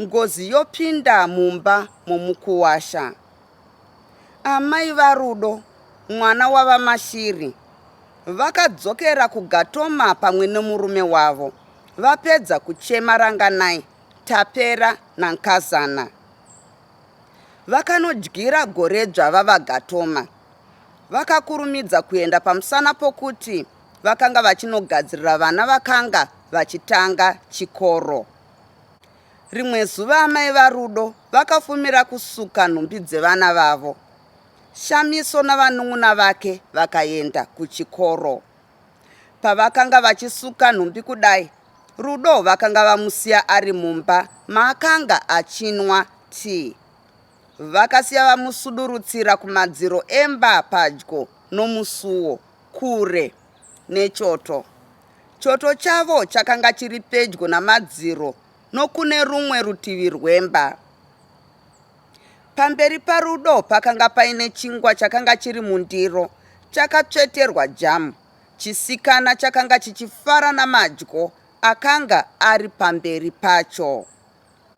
Ngozi yopinda mumba momukuwasha. Amai vaRudo, mwana waVaMashiri, vakadzokera kuGatoma pamwe nemurume wavo vapedza kuchema Ranganai, Tapera naNkazana. Vakanodyira Goredzva vaVaGatoma. Vakakurumidza kuenda pamusana pokuti vakanga vachinogadzirira vana vakanga vachitanga chikoro. Rimwe zuva amai vaRudo vakafumira kusuka nhumbi dzevana vavo. Shamiso navanun'una vake vakaenda kuchikoro. Pavakanga vachisuka nhumbi kudai, Rudo vakanga vamusiya ari mumba maakanga achinwa tii. Vakasiya vamusudurutsira kumadziro emba padyo nomusuwo. Kure nechoto. Choto chavo chakanga chiri pedyo namadziro nokune rumwe rutivi rwemba. Pamberi paRudo pakanga paine chingwa chakanga chiri mundiro chakatsveterwa jamu. Chisikana chakanga chichifara namadyo akanga ari pamberi pacho.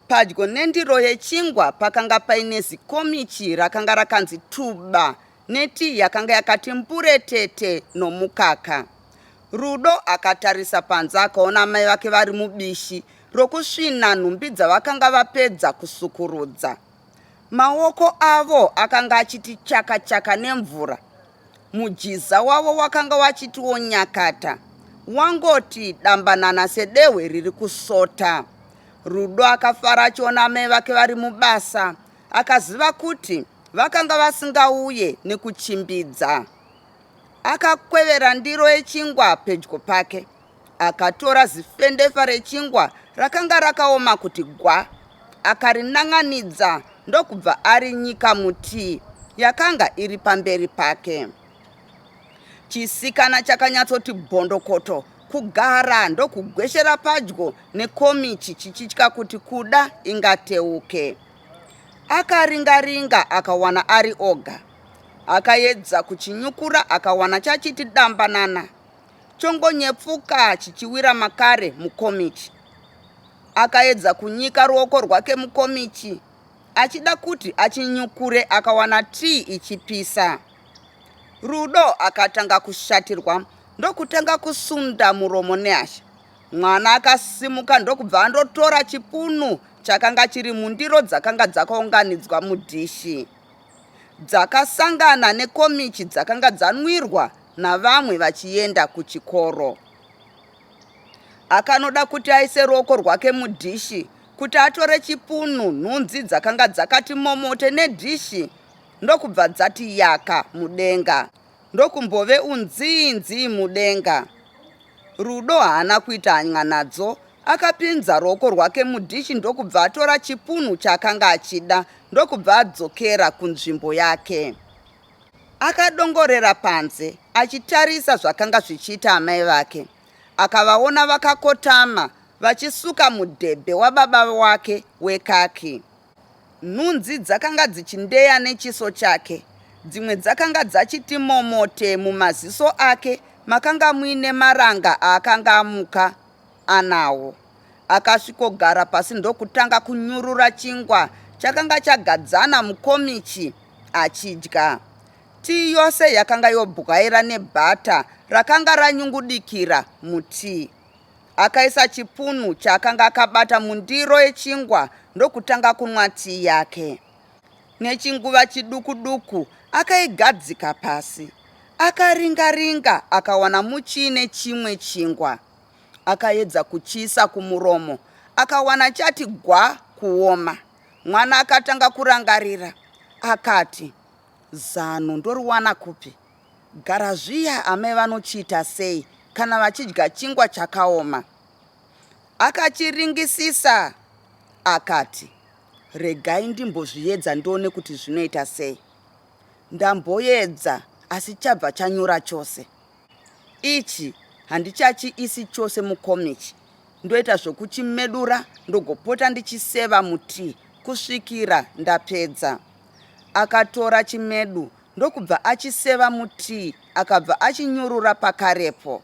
Padyo nendiro yechingwa pakanga paine zikomichi rakanga rakanzi tuba netii yakanga yakati mburetete nomukaka. Rudo akatarisa panze akaona amai vake vari mubishi rokusvina nhumbi dzavakanga vapedza kusukurudza. Maoko avo akanga achiti chaka chaka nemvura. Mujiza wavo wakanga wachitiwo nyakata wangoti dambanana sedehwe riri kusota. Rudo akafara achiona amai vake vari mubasa akaziva kuti vakanga vasingauye nekuchimbidza. Akakwevera ndiro yechingwa pedyo pake Akatora zifendefa rechingwa rakanga rakaoma kuti gwa, akarinan'anidza ndokubva arinyika mutii yakanga iri pamberi pake. Chisikana chakanyatsoti bhondokoto kugara ndokugweshera padyo nekomichi chichitya kuti kuda ingateuke. Akaringaringa akawana ari oga. Akaedza kuchinyukura akawana chachiti dambanana. chongonyepfuka chichiwira makare mukomichi. Akaedza kunyika ruoko rwake mukomichi achida kuti achinyukure akawana tii ichipisa. Rudo akatanga kushatirwa ndokutanga kusunda muromo nehasha. Mwana akasimuka ndokubva andotora chipunu chakanga chiri mundiro dzakanga dzakaunganidzwa mudhishi. Dzakasangana nekomichi dzakanga dzanwirwa navamwe vachienda kuchikoro. Akanoda kuti aise ruoko rwake mudhishi kuti atore chipunu nhunzi dzakanga dzakati momote nedhishi ndokubva dzati yaka mudenga ndokumbove unziinzii mudenga. Rudo haana kuita hanya nadzo akapinza ruoko rwake mudhishi ndokubva atora chipunu chaakanga achida ndokubva adzokera kunzvimbo yake. Akadongorera panze achitarisa zvakanga zvichiita amai vake. Akavaona vakakotama vachisuka mudhebhe wababa wake wekaki. Nhunzi dzakanga dzichindeya nechiso chake. Dzimwe dzakanga dzachiti momote mumaziso ake makanga muine maranga aakanga amuka anawo. Akasvikogara pasi ndokutanga kunyurura chingwa chakanga chagadzana mukomichi achidya. Tii yose yakanga yobwaira nebhata rakanga ranyungudikira mutii. Akaisa chipunu chaakanga akabata mundiro yechingwa ndokutanga kunwa tii yake. Nechinguva chiduku duku akaigadzika pasi. Akaringa ringa akawana muchii nechimwe chingwa. Akaedza kuchiisa kumuromo akawana chati gwa kuoma. Mwana akatanga kurangarira akati, zano ndoriwana kupi? Gara zviya amai vanochiita sei kana vachidya chingwa chakaoma? Akachiringisisa akati, regai ndimbozviedza ndione kuti zvinoita sei. Ndamboedza asi chabva chanyura chose. ichi handichachiisi chose mukomichi ndoita zvokuchimedura ndogopota ndichiseva mutii kusvikira ndapedza akatora chimedu ndokubva achiseva mutii akabva achinyurura pakarepo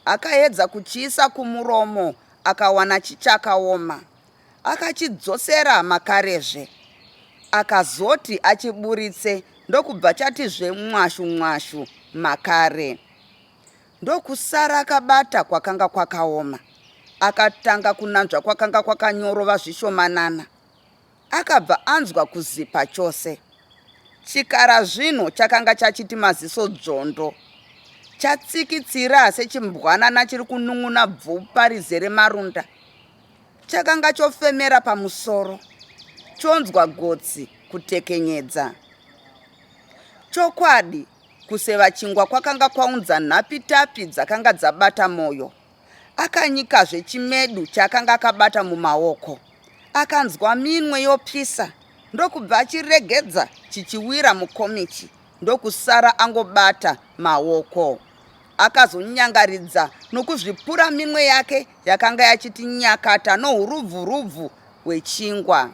akaedza kuchiisa kumuromo akawana chichakaoma akachidzosera makarezve akazoti achiburitse ndokubva chatizve mwashu mwashu makare ndokusara akabata kwakanga kwakaoma akatanga kunanzva kwakanga kwakanyorova zvishomanana akabva anzwa kuzipa chose chikara zvino chakanga chachiti maziso dzvondo chatsikitsira sechimbwanana chiri kunun'una bvupa rizere marunda Chakanga chofemera pamusoro chonzwa gotsi kutekenyedza. Chokwadi, kuseva chingwa kwakanga kwaunza nhapitapi dzakanga dzabata Moyo. Akanyikazve chimedu chaakanga akabata mumaoko. Akanzwa minwe yopisa ndokubva achiregedza chichiwira mukomichi ndokusara angobata maoko. Akazonyangaridza nokuzvipura minwe yake yakanga yachiti nyakata nourubvurubvu hwechingwa.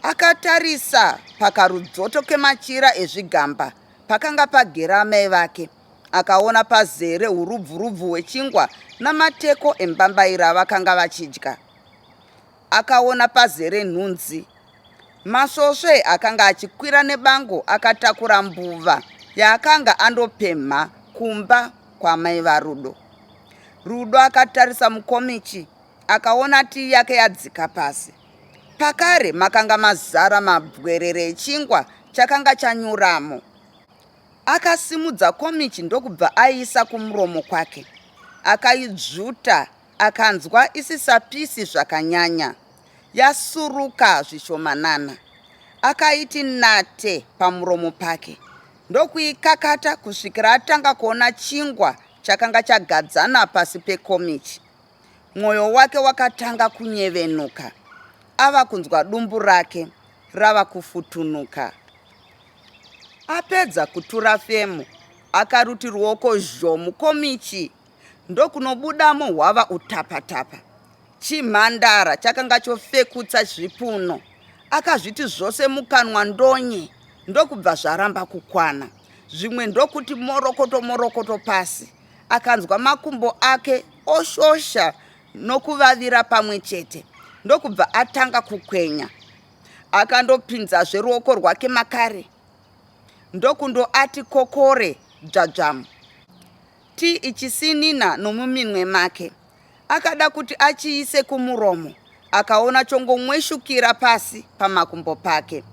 Akatarisa pakarudzoto kemachira ezvigamba pakanga pagera amai vake. Akaona pazere urubvurubvu hwechingwa namateko embambaira avakanga vachidya. akaona pazere nhunzi. Masvosve akanga achikwira nebango akatakura mbuva yaakanga andopemha kumba kwamai varudo. Rudo akatarisa mukomichi akaona tii yake yadzika pasi. Pakare makanga mazara mabwerere echingwa chakanga chanyuramo. Akasimudza komichi ndokubva aiisa kumuromo kwake. Akaidzvuta Akanzwa isisapisi zvakanyanya, yasuruka zvishomanana. Akaiti nate pamuromo pake ndokuikakata kusvikira atanga kuona chingwa chakanga chagadzana pasi pekomichi. Mwoyo wake wakatanga kunyevenuka ava kunzwa dumbu rake rava kufutunuka. Apedza kutura femo, akaruti ruoko zhomu komichi ndokunobudamo hwava utapatapa. Chimhandara chakanga chofekutsa zvipuno. Akazviti zvose mukanwa ndonye ndokubva zvaramba kukwana. Zvimwe ndokuti morokoto morokoto pasi. Akanzwa makumbo ake oshosha nokuvavira pamwe chete ndokubva atanga kukwenya. Akandopinzazve ruoko rwake makare ndokundoati kokore dzvadzvamu. Ti ichisinina nomuminwe make. Akada kuti achiise kumuromo akaona chongomweshukira pasi pamakumbo pake.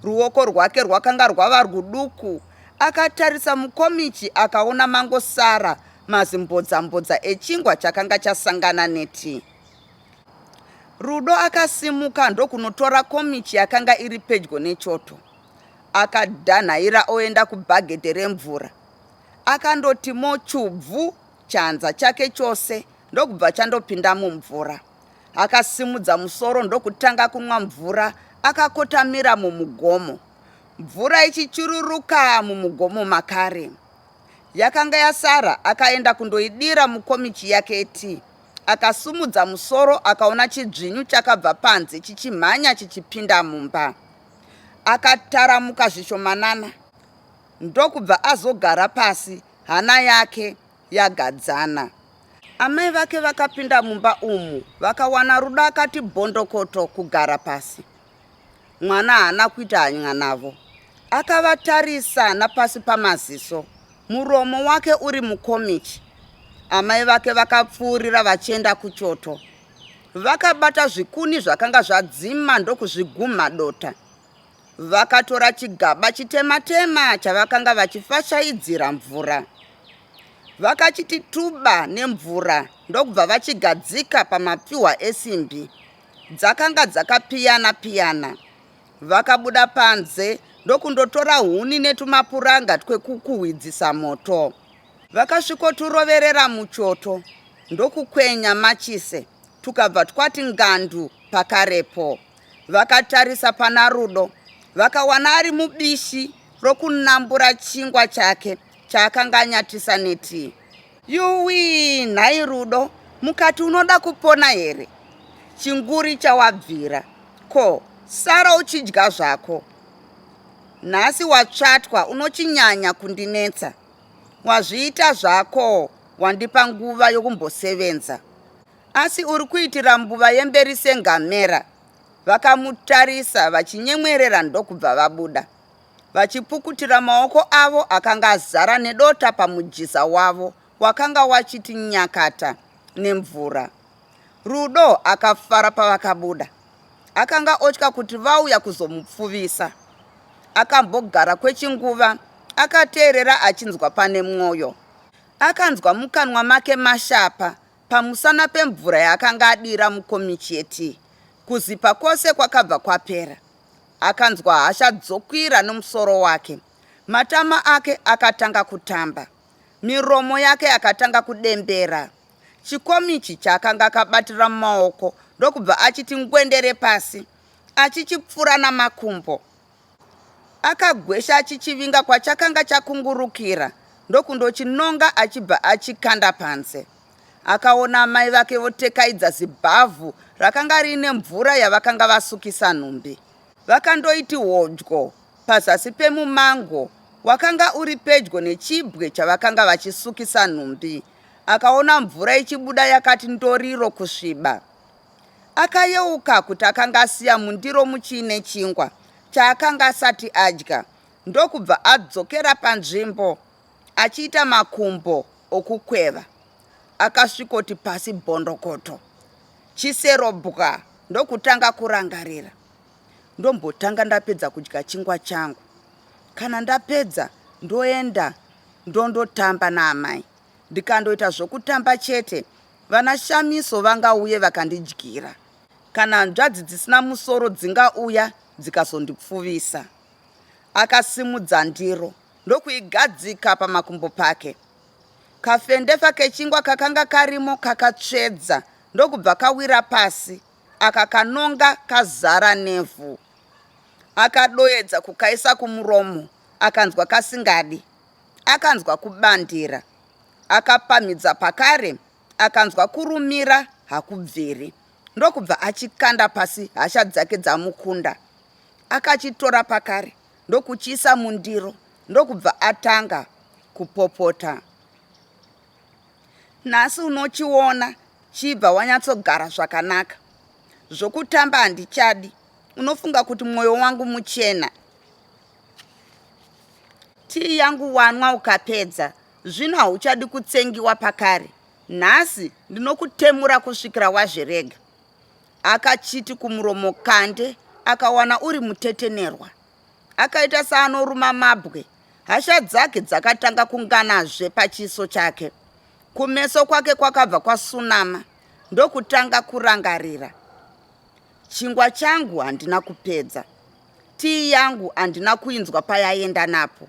Ruoko rwake rwakanga rwava rwuduku. Akatarisa mukomichi akaona mangosara mazimbodzambodza echingwa chakanga chasangana neti. Rudo akasimuka ndokunotora komichi yakanga iri pedyo nechoto. Akadanhaira oenda kubhagedhe remvura. Akandoti mochu bvu chanza chake chose ndokubva chandopinda mumvura. Akasimudza musoro ndokutanga kunwa mvura akakotamira mumugomo. Mvura ichichururuka mumugomo makare. Yakanga yasara akaenda kundoidira mukomichi yake yetii. Akasumudza musoro akaona chidzvinyu chakabva panze chichimhanya chichipinda mumba. Akataramuka zvishomanana. ndokubva azogara pasi hana yake yagadzana. Amai vake vakapinda mumba umu vakawana Ruda akati bhondokoto kugara pasi. Mwana haana kuita hanya navo. Akavatarisa napasi pamaziso, muromo wake uri mukomichi. Amai vake vakapfuurira vachienda kuchoto. Vakabata zvikuni zvakanga zvadzima ndokuzvigumha dota. Vakatora chigaba chitema-tema chavakanga vachifashaidzira mvura. Vakachiti tuba nemvura ndokubva vachigadzika pamapfihwa esimbi. Dzakanga dzakapiyana-piyana. Vakabuda panze ndokundotora huni netumapuranga twekukuhwidzisa moto. Vakasvikoturoverera muchoto ndokukwenya machise tukabva twati ngandu pakarepo. Vakatarisa pana Rudo vakawana ari mubishi rokunambura chingwa chake chaakanga anyatisa netii. Yuwii, nhai Rudo, mukati unoda kupona here? Chinguri chawabvira, ko sara uchidya zvako. Nhasi watsvatwa unochinyanya kundinetsa. Wazviita zvako wandipa nguva yokumbosevenza. Asi uri kuitira mbuva yemberi sengamera. Vakamutarisa vachinyemwerera ndokubva vabuda vachipukutira maoko avo akanga azara nedota pamujiza wavo wakanga wachiti nyakata nemvura. Rudo akafara pavakabuda. Akanga otya kuti vauya kuzomupfuvisa. Akambogara kwechinguva akateerera achinzwa pane mwoyo. Akanzwa mukanwa make mashapa pamusana pemvura yaakanga adira mukomichi yetii. Kuzipa kwose kwakabva kwapera. Akanzwa hasha dzokwira nomusoro wake. Matama ake akatanga kutamba. Miromo yake yakatanga kudembera. Chikomichi chaakanga akabatira mumaoko ndokubva achiti ngwendere pasi achichipfura namakumbo. Akagwesha achichivinga kwachakanga chakungurukira ndokundochinonga achibva achikanda panze. Akaona amai vake votekaidza zibhavhu rakanga riine mvura yavakanga vasukisa nhumbi. Vakandoiti hodyo pazasi pemumango wakanga uri pedyo nechibwe chavakanga vachisukisa nhumbi. Akaona mvura ichibuda yakati ndoriro kusviba. Akayeuka kuti akanga asiya mundiro muchiine chingwa chaakanga asati adya ndokubva adzokera panzvimbo achiita makumbo okukweva. Akasvikoti pasi bondokoto chisero bwa ndokutanga kurangarira. Ndombotanga ndapedza kudya chingwa changu. Kana ndapedza ndoenda ndondotamba naamai. Ndikandoita zvokutamba chete Vana Shamiso vangauye vakandidyira. Kana hanzvadzi dzisina musoro dzingauya dzikazondipfuvisa. Akasimudza ndiro ndokuigadzika pamakumbo pake. Kafendefa kechingwa kakanga karimo kakatsvedza ndokubva kawira pasi akakanonga kazara nevhu. Akadoedza kukaisa kumuromo akanzwa kasingadi. Akanzwa kubandira Akapamhidza pakare akanzwa kurumira hakubviri ndokubva achikanda pasi hasha dzake dzamukunda. Akachitora pakare ndokuchiisa mundiro ndokubva atanga kupopota. Nhasi unochiona chibva wanyatsogara zvakanaka. Zvokutamba handichadi. Unofunga kuti mwoyo wangu muchena. Tii yangu wanwa ukapedza, zvino hauchadi kutsengiwa pakare. Nhasi ndinokutemura kusvikira wazvirega. Akachiti kumuromo kande akawana uri mutetenerwa. Akaita saanoruma mabwe. Hasha dzake dzakatanga kunganazve pachiso chake. Kumeso kwake kwakabva kwasunama ndokutanga kurangarira. Chingwa changu handina kupedza. Tii yangu handina kuinzwa payaenda napo.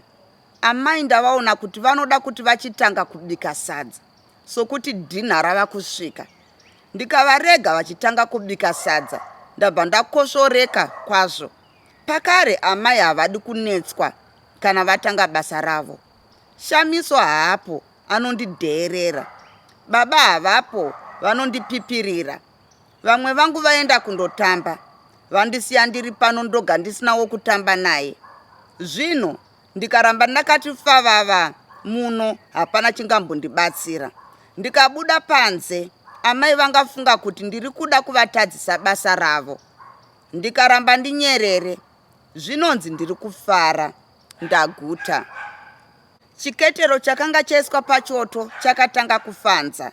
Amai ndavaona kuti vanoda kuti vachitanga kubika sadza sokuti dinner rava kusvika. Ndikavarega vachitanga kubika sadza ndabva ndakosvoreka kwazvo. Pakare amai havadi kunetswa kana vatanga basa ravo. Shamiso haapo anondidheerera. Baba havapo vanondipipirira. Vamwe vangu vaenda kundotamba vandisiya ndiri pano ndoga ndisina wokutamba naye. Zvino ndikaramba ndakati favava muno hapana chingambondibatsira. Ndikabuda panze amai vangafunga kuti ndiri kuda kuvatadzisa basa ravo. Ndikaramba ndinyerere zvinonzi ndiri kufara ndaguta. Chiketero chakanga chaiswa pachoto chakatanga kufanza.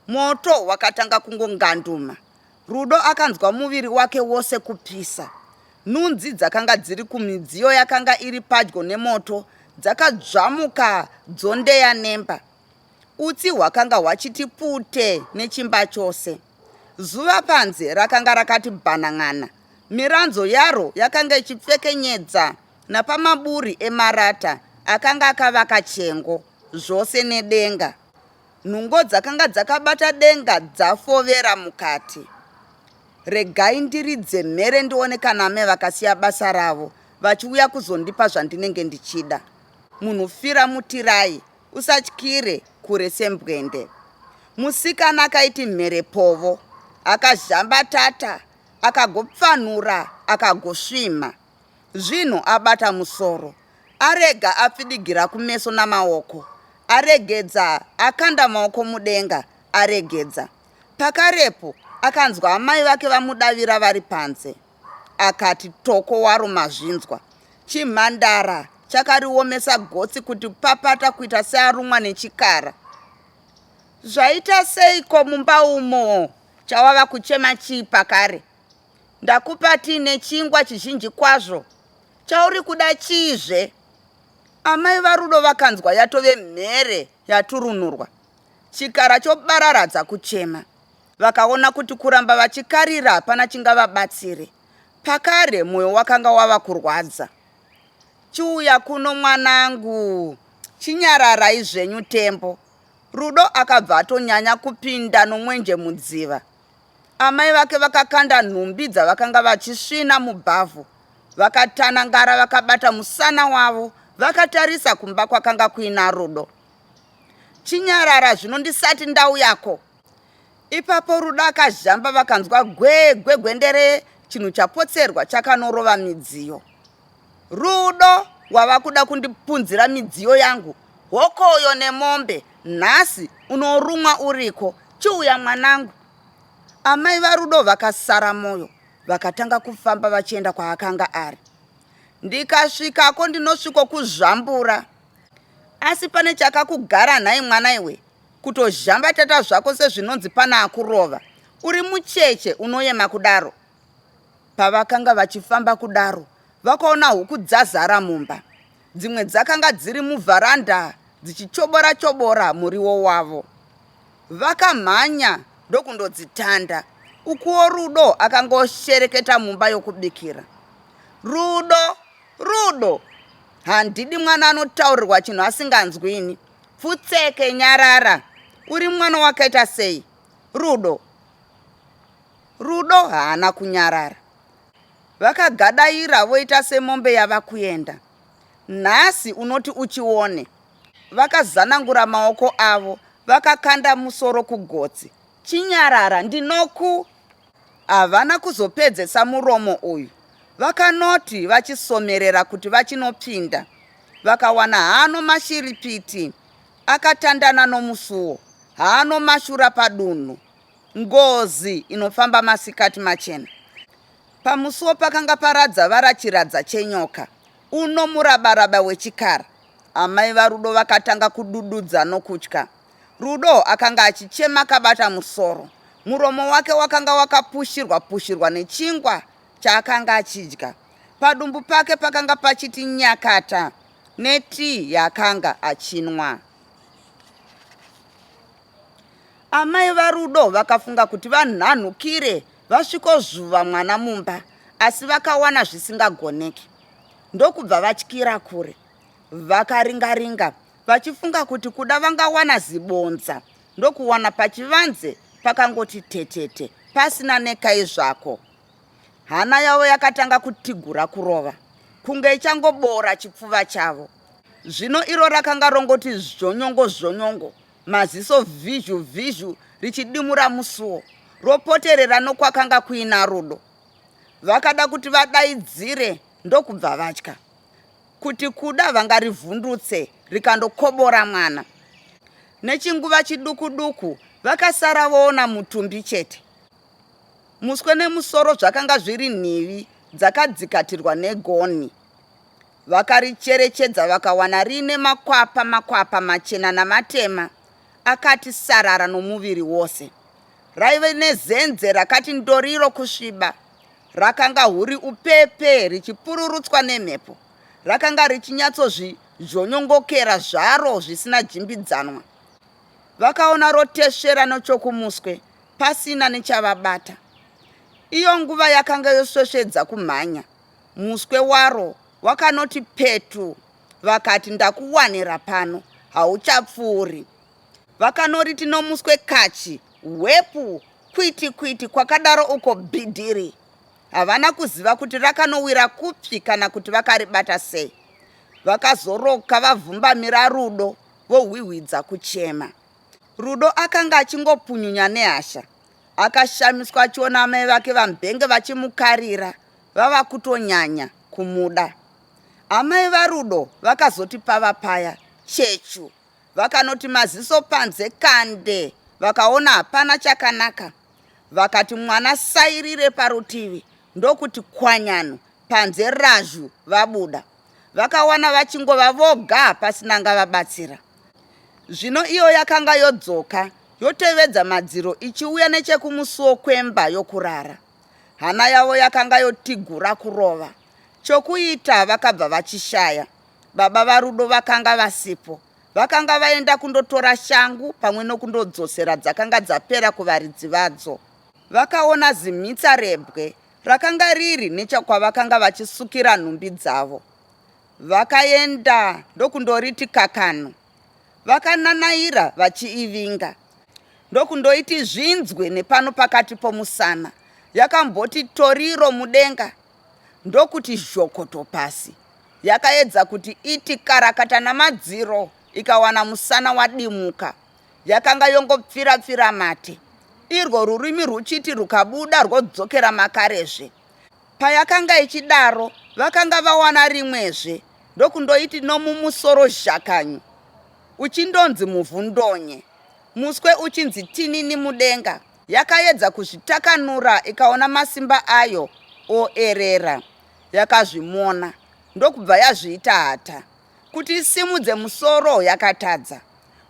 Moto wakatanga kungonganduma. Rudo akanzwa muviri wake wose kupisa. Nhunzi dzakanga dziri kumidziyo yakanga iri padyo nemoto dzakadzvamuka dzondeya nemba. Utsi hwakanga hwachiti pute nechimba chose. Zuva panze rakanga rakati bhanan'ana. Miranzo yaro yakanga ichipfekenyedza napamaburi emarata akanga akavaka chengo, zvose nedenga. Nhungo dzakanga dzakabata denga dzafovera mukati. Regai ndiridze mhere ndione kana ame vakasiya basa ravo vachiuya kuzondipa zvandinenge ndichida. Munhu fira mutirai, usatyire kure sembwende. Musikana akaiti mhere povo, akazhambatata, akagopfanhura, akagosvimha. Zvino abata musoro, arega apfidigira kumeso namaoko, aregedza, akanda maoko mudenga, aregedza. Pakarepo akanzwa amai vake vamudavira vari panze. Akati toko waro mazvinzwa. Chimhandara chakariomesa gotsi kuti papata kuita searumwa nechikara. Zvaita seiko mumba umo? Chawava kuchema chii pakare? Ndakupa tea nechingwa chizhinji kwazvo. Chauri kuda chiizve? Amai vaRudo vakanzwa yatove mhere yaturunurwa. Chikara chobararadza kuchema. Vakaona kuti kuramba vachikarira hapana chingavabatsire. Pakare moyo wakanga wava kurwadza. Chiuya kuno mwanangu. Chinyararai zvenyu Tembo. Rudo akabva atonyanya kupinda nomwenje mudziva. Amai vake vakakanda nhumbi dzavakanga vachisvina mubhavhu vakatanangara vakabata musana wavo vakatarisa kumba kwakanga kuina Rudo. Chinyarara zvino ndisati ndauyako. Ipapo Rudo akazhamba vakanzwa gwegwe gwendere chinhu chapotserwa chakanorova midziyo. Rudo wava kuda kundipunzira midziyo yangu hokoyo nemombe nhasi unorumwa uriko chiuya mwanangu amai varudo vakasara moyo vakatanga kufamba vachienda kwaakanga ari ndikasvikako ndinosviko kuzvambura asi pane chakakugara nhai mwana iwe kutozhambatata zvako sezvinonzi pana akurova uri mucheche unoyema kudaro Pavakanga vachifamba kudaro, vakaona huku dzazara mumba. Dzimwe dzakanga dziri muvharanda dzichichobora chobora muriwo wavo. Vakamhanya ndokundodzitanda. Ukuwo Rudo akangoshereketa mumba yokubikira. Rudo, Rudo, handidi mwana anotaurirwa chinhu asinganzwi ini. Pfutseke, nyarara. Uri mwana wakaita sei? Rudo, Rudo haana kunyarara. Vakagadaira voita semombe yava kuenda. Nhasi unoti uchione. Vakazanangura maoko avo vakakanda musoro kugotsi. Chinyarara ndinoku. Havana kuzopedzesa muromo uyu. Vakanoti vachisomerera kuti vachinopinda. Vakawana haano mashiripiti akatandana nomusuwo. Haano mashura padunhu. Ngozi inofamba masikati machena. Pamusuwo pakanga paradza vara chiradza chenyoka, uno murabaraba wechikara. Amai vaRudo vakatanga kudududza nokutya. Rudo akanga achichema akabata musoro. Muromo wake wakanga wakapushirwa pushirwa nechingwa chaakanga achidya. Padumbu pake pakanga pachiti nyakata netii yaakanga achinwa. Amai vaRudo vakafunga kuti vanhanhukire vasvikozvuva mwana mumba asi vakawana zvisingagoneki ndokubva vatyira kure. Vakaringa-ringa vachifunga kuti kuda vangawana zibonza ndokuwana pachivanze pakangoti tetete pasina nekai zvako. Hana yavo yakatanga kutigura kurova kunge ichangoboora chipfuva chavo. Zvino iro rakanga rongoti zvonyongo zvonyongo Maziso vhizhu vhizhu richidimura musuwo ropoterera nokwakanga kuina Rudo. Vakada kuti vadaidzire ndokubva vatya kuti kuda vangarivhundutse rikandokobora mwana. Nechinguva chiduku duku vakasara voona mutumbi chete. Muswe nemusoro zvakanga zviri nhivi dzakadzikatirwa negonhi. Vakaricherechedza vakawana riine makwapa makwapa machena namatema akati sarara nomuviri wose. Raive nezenze rakati ndoriro kusviba. Rakanga huri upepe richipururutswa nemhepo. Rakanga richinyatsozvizhonyongokera zvaro zvisina jimbidzanwa. Vakaona rotesvera nochokumuswe pasina nechavabata. Iyo nguva yakanga yosvesvedza kumhanya. Muswe waro wakanoti petu vakati ndakuwanira pano hauchapfuuri. Vakanoriti nomuswe kachi hwepu kwiti kwiti kwakadaro uko bhidhiri. Havana kuziva kuti rakanowira kupi kana kuti vakaribata sei. Vakazoroka vavhumbamira Rudo vohwihwidza kuchema. Rudo akanga achingopunyunya nehasha Akashamiswa achiona amai vake vaMbenge vachimukarira vava kutonyanya kumuda. Amai vaRudo vakazoti pava paya chechu vakanoti maziso panze kande vakaona hapana chakanaka vakati mwana sairire parutivi ndokuti kwanyano panze razhu vabuda. vakawana vachingova voga pasina angavabatsira. Zvino iyo yakanga yodzoka yotevedza madziro ichiuya nechekumusuwo kwemba yokurara. Hana yavo yakanga yotigura kurova. Chokuita vakabva vachishaya. Baba vaRudo vakanga vasipo. Vakanga vaenda kundotora shangu pamwe nokundodzosera dzakanga dzapera kuvaridzi vadzo. Vakaona zimhitsa rebwe rakanga riri nechakwavakanga vachisukira nhumbi dzavo vakaenda ndokundoriti kakano vakananaira vachiivinga ndokundoiti zvinzwe nepano pakati pomusana yakamboti toriro mudenga ndokuti zhokoto pasi yakaedza kuti iti karakata namadziro ikawana musana wadimuka yakanga yongopfira pfira mate irwo rurimi rwuchiti rwukabuda rwodzokera makarezve payakanga ichidaro vakanga vawana rimwezve ndokundoiti nomumusoro zhakanyu uchindonzi muvhu ndonye muswe uchinzi tinini mudenga yakayedza kuzvitakanura ikaona masimba ayo oerera yakazvimona ndokubva yazviita hata Kuti isimudze musoro yakatadza.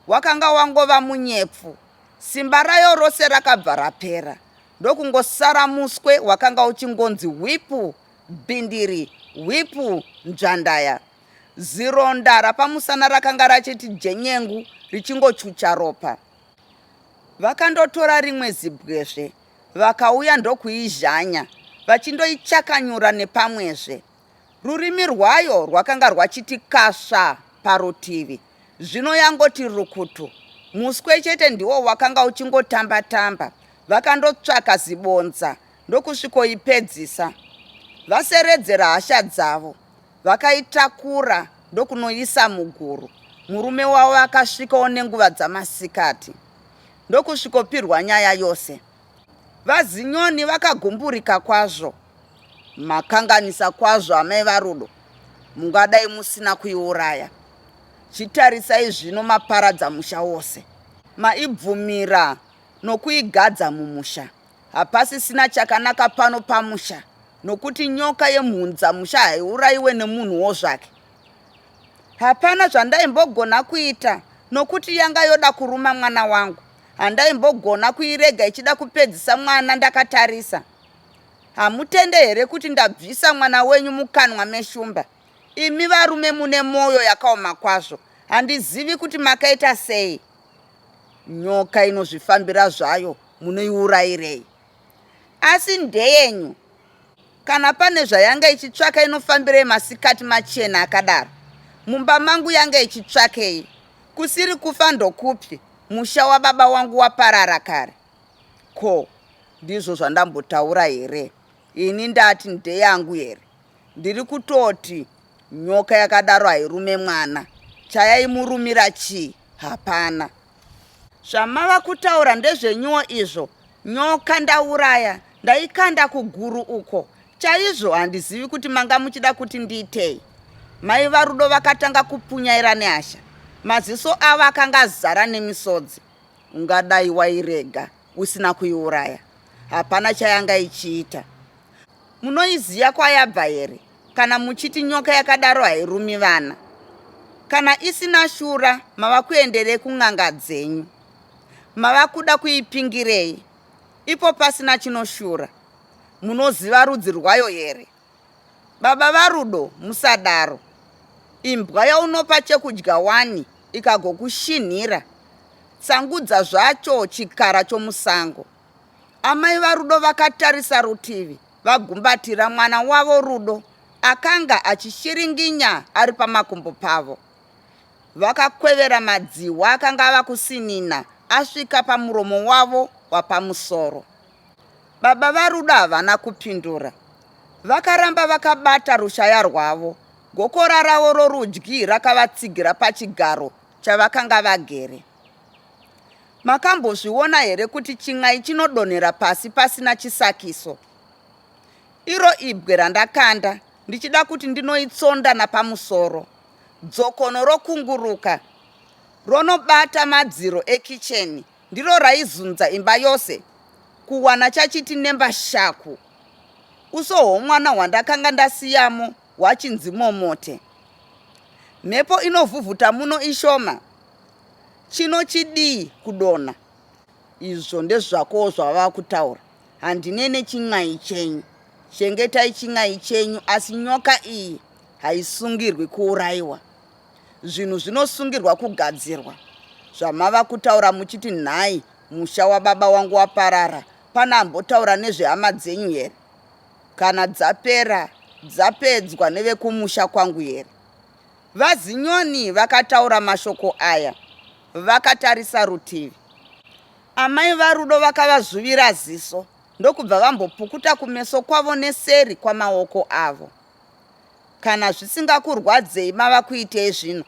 Wakanga wangova munyepfu. Simba rayo rose rakabva rapera ndokungosara muswe wakanga uchingonzi hwipu bhindiri hwipu nzvandaya. Zironda rapamusana rakanga rachiti jenyengu richingochucha ropa. Vakandotora rimwe zibwezve vakauya ndokuizhanya vachindoichakanyura nepamwezve. Rurimi rwayo rwakanga rwachiti kasva parutivi, zvino yangoti rukutu. Muswe chete ndiwo wakanga uchingotamba-tamba. Vakandotsvaka zibonza ndokusvikoipedzisa. Vaseredzera hasha dzavo, vakaitakura ndokunoisa muguru. Murume wavo akasvikawo nenguva dzamasikati ndokusvikopirwa nyaya yose. VaZinyoni vakagumburika kwazvo. Makanganisa kwazvo amai vaRudo, mungadai musina kuiuraya. Chitarisai zvino maparadza musha wose. Maibvumira nokuigadza mumusha. Hapasisina chakanaka pano pamusha nokuti nyoka yemhunza musha haiurayiwe nemunhuwo zvake. Hapana zvandayimbogona kuita nokuti yanga yoda kuruma mwana wangu. Handaimbogona kuirega ichida kupedzisa mwana ndakatarisa. Hamutende here kuti ndabvisa mwana wenyu mukanwa meshumba? Imi varume mune moyo yakaoma kwazvo. Handizivi kuti makaita sei. Nyoka inozvifambira zvayo munoiurayirei? asi ndeyenyu kana pane zvayanga ichitsvaka inofambirei masikati machena akadaro mumba mangu yanga ichitsvakei kusiri kufa ndokupi musha wababa wangu waparara kare ko ndizvo zvandambotaura here ini ndati ndeyangu here ndiri kutoti nyoka yakadaro hairume mwana chayaimurumira chii hapana Zvamava kutaura ndezvenyuwo izvo. Nyoka ndauraya, ndaikanda kuguru uko. Chaizvo handizivi kuti manga muchida kuti ndiitei. Mai vaRudo vakatanga kupunyaira nehasha. Maziso avo akanga azara nemisodzi. Ungadai wairega. usina kuiuraya hapana chayanga ichiita munoiziva kwayabva here kana muchiti nyoka yakadaro hairumi vana kana isina shura mava kuenderei kun'anga dzenyu mava kuda kuipingirei ipo pasina chinoshura munoziva rudzi rwayo here Baba vaRudo musadaro. Imbwa yaunopa chekudya wani ikagokushinhira. Tsangudza zvacho chikara chomusango. Amai vaRudo vakatarisa rutivi vagumbatira mwana wavo Rudo akanga achishiringinya ari pamakumbo pavo. Vakakwevera madzihwa akanga ava kusinina asvika pamuromo wavo wapamusoro. Baba vaRudo havana kupindura. Vakaramba vakabata rushaya rwavo, gokora ravo rorudyi rakavatsigira pachigaro chavakanga vagere. Makambozviona here kuti chin'ai chinodonhera pasi pasina chisakiso? Iro ibwe randakanda ndichida kuti ndinoitsonda napamusoro. Dzokono rokunguruka ronobata madziro ekicheni Ndiro raizunza imba yose kuwana chachiti nembashaku. Uso hwomwana hwandakanga ndasiyamo hwachinzi momote. Mhepo inovhuvhuta muno ishoma. Chino chidii kudonha. Izvo ndezvakowo zvavava kutaura. Handine nechin'ai chenyu. Chengetai chin'ai chenyu asi nyoka iyi haisungirwi kuuraiwa. Zvinhu zvinosungirwa kugadzirwa zvamava kutaura muchiti nhai musha wababa wangu waparara pane ambotaura nezvehama dzenyu here kana dzapera dzapedzwa nevekumusha kwangu here vazinyoni vakataura mashoko aya vakatarisa rutivi amai varudo vakavazvuvira ziso ndokubva vambopukuta kumeso kwavo neseri kwamaoko avo Kana zvisingakurwadzei mava kuitei zvino?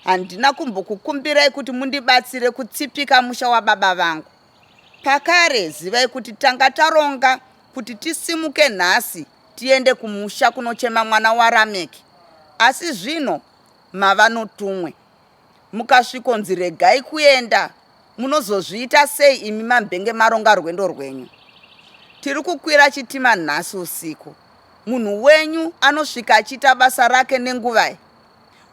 Handina kumbokukumbirai kuti mundibatsire kutsipika musha wababa vangu. Pakare zivai kuti tanga taronga kuti tisimuke nhasi tiende kumusha kunochema mwana waRameki. Asi zvino mava notumwe. Mukasvikonzi regai kuenda munozozviita sei imi mambenge maronga rwendo rwenyu. Tiri kukwira chitima nhasi usiku. Munhu wenyu anosvika achiita basa rake nenguvai.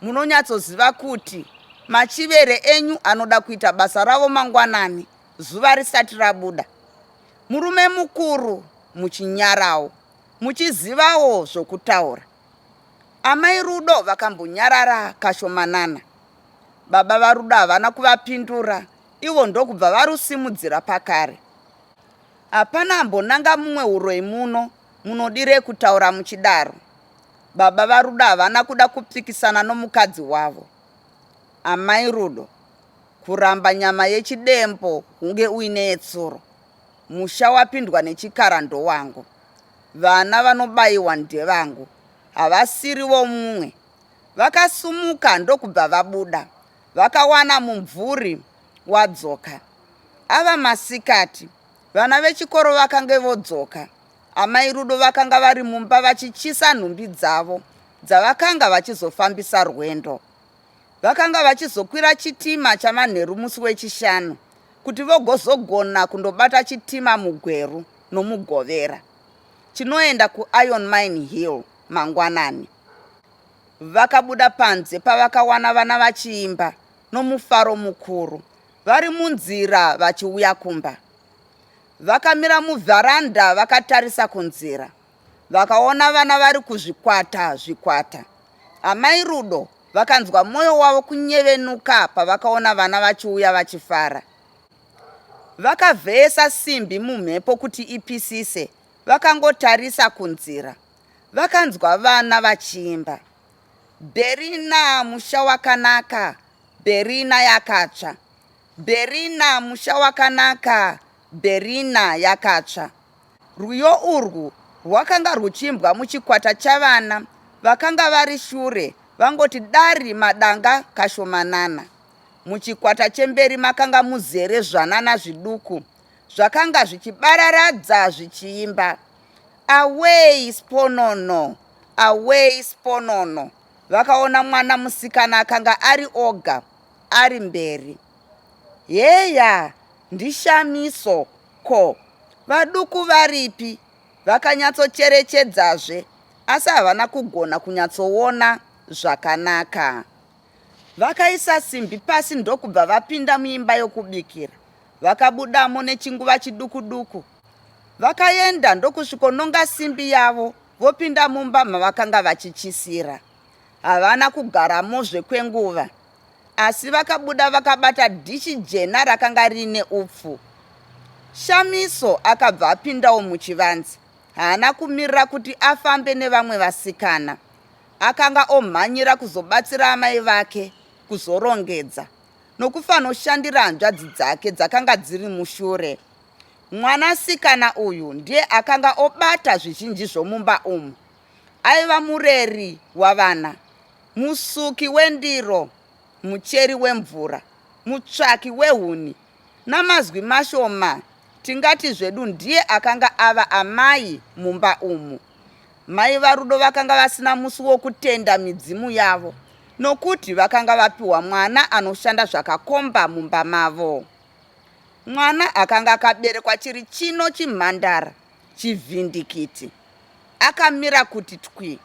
Munonyatsoziva kuti machivere enyu anoda kuita basa ravo mangwanani zuva risati rabuda. Murume mukuru muchinyarawo muchizivawo zvokutaura. Amai Rudo vakambonyarara kashomanana. Baba vaRudo havana kuvapindura ivo ndokubva varusimudzira pakare. Hapana ambonanga mumwe uroyi muno, munodirei kutaura muchidaro? Baba vaRudo havana kuda kupikisana nomukadzi wavo. Amai Rudo, kuramba nyama yechidembo hunge uine yetsuro. Musha wapindwa nechikara ndowangu. Vana vanobaiwa ndevangu. Havasiri vomumwe. Vakasumuka ndokubva vabuda. Vakawana mumvuri wadzoka. Ava masikati. Vana vechikoro vakange vodzoka. Amai Rudo vakanga vari mumba vachichisa nhumbi dzavo dzavakanga vachizofambisa rwendo. Vakanga vachizokwira chitima chamanheru musi weChishanu kuti vogozogona kundobata chitima muGweru noMugovera chinoenda kuIron Mine Hill mangwanani. Vakabuda panze pavakawana vana vachiimba nomufaro mukuru vari munzira vachiuya kumba. Vakamira muvharanda vakatarisa kunzira. vakaona vana vari kuzvikwata zvikwata. Amai Rudo vakanzwa mwoyo wavo kunyevenuka pavakaona vana vachiuya vachifara. Vakavheyesa simbi mumhepo kuti ipisise, vakangotarisa kunzira. Vakanzwa vana vachiimba, Berina musha wakanaka, Berina yakatsva, Berina musha wakanaka, Berina yakatsva. Rwiyo urwu rwakanga rwuchiimbwa muchikwata chavana vakanga vari shure vangoti dari madanga kashomanana. Muchikwata chemberi makanga muzere zvanana zviduku zvakanga zvichibararadza zvichiimba Away Sponono! Away Sponono! Vakaona mwana musikana akanga ari oga ari mberi. Heya, ndiShamiso! Ko, vaduku varipi? Vakanyatsocherechedzazve, asi havana kugona kunyatsoona zvakanaka. Vakaisa simbi pasi ndokubva vapinda muimba yokubikira. Vakabudamo nechinguva chiduku-duku. Vakaenda ndokusvikononga simbi yavo vopinda mumba mavakanga vachityisira. Havana kugaramozve kwenguva. Asi vakabuda vakabata dhishi jena rakanga riine upfu. Shamiso akabva apindawo muchivanze. Haana kumirira kuti afambe nevamwe vasikana. Akanga omhanyira kuzobatsira amai vake kuzorongedza nokufanoshandira hanzvadzi dzake dzakanga dziri mushure. Mwanasikana uyu ndiye akanga obata zvizhinji zvomumba umu. Aiva mureri wavana, musuki wendiro, mucheri wemvura, mutsvaki wehuni. Namazwi mashoma tingati zvedu ndiye akanga ava amai mumba umu. Mai vaRudo vakanga vasina musi wokutenda midzimu yavo nokuti vakanga vapiwa mwana anoshanda zvakakomba mumba mavo. Mwana akanga akaberekwa chiri chino chimhandara Chivhindikiti. Akamira kuti twi.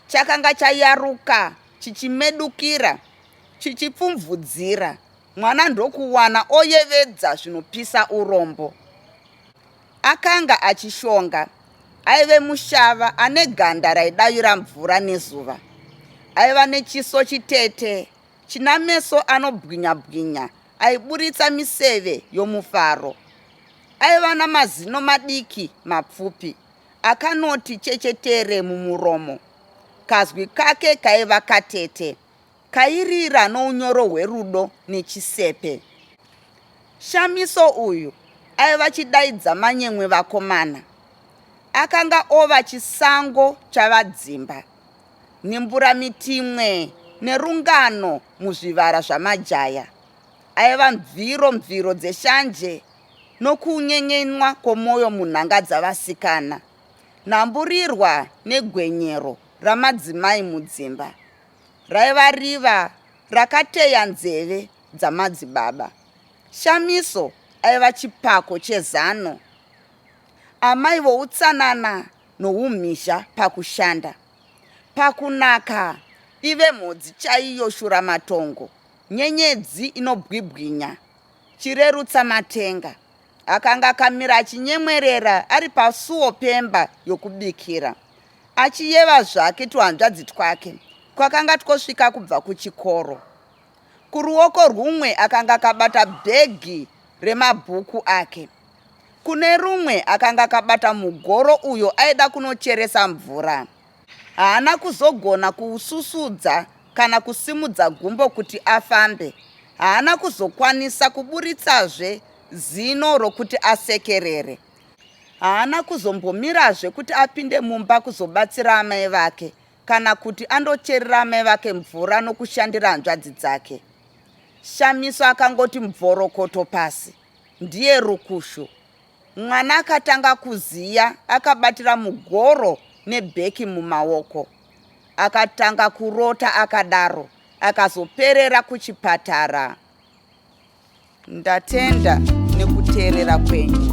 Chakanga chayaruka chichimedukira chichipfumvudzira mwana ndokuwana oyevedza zvinopisa urombo. Akanga achishonga. Aive mushava ane ganda raidavira mvura nezuva. Aiva nechiso chitete china meso anobwinya bwinya aiburitsa miseve yomufaro. Aiva namazino madiki mapfupi akanoti chechetere mumuromo. Kazwi kake kaiva katete, kairira nounyoro hwerudo nechisepe. Shamiso uyu aiva chidaidza manyemwe vakomana. Akanga ova chisango chavadzimba. Nembura-mitimwe nerungano muzvivara zvamajaya aiva mviro mviro dzeshanje nokunyenyenwa kwomwoyo munhanga dzavasikana, nhamburirwa negwenyero ramadzimai mudzimba raiva riva rakateya nzeve dzamadzibaba. Shamiso aiva chipako chezano. Amai voutsanana noumhizha pakushanda pakunaka ive mhodzi chaiyo shuramatongo nyenyedzi inobwibwinya chirerutsa matenga akanga akamira achinyemwerera ari pasuo pemba yokubikira achiyeva zvake tuhanzvadzi twake kwakanga twosvika kubva kuchikoro kuruoko rwumwe akanga akabata bhegi remabhuku ake Kune rumwe akanga akabata mugoro uyo aida kunocheresa mvura. Haana kuzogona kuususudza kana kusimudza gumbo kuti afambe. Haana kuzokwanisa kuburitsazve zino rokuti asekerere. Haana kuzombomirazve kuti apinde mumba kuzobatsira amai vake kana kuti andocherera amai vake mvura nokushandira hanzvadzi dzake. Shamiso akangoti mvorokoto pasi. ndiye rukushu mwana akatanga kuziya akabatira mugoro nebheki mumaoko akatanga kurota akadaro akazoperera kuchipatara ndatenda nekuteerera kwenyu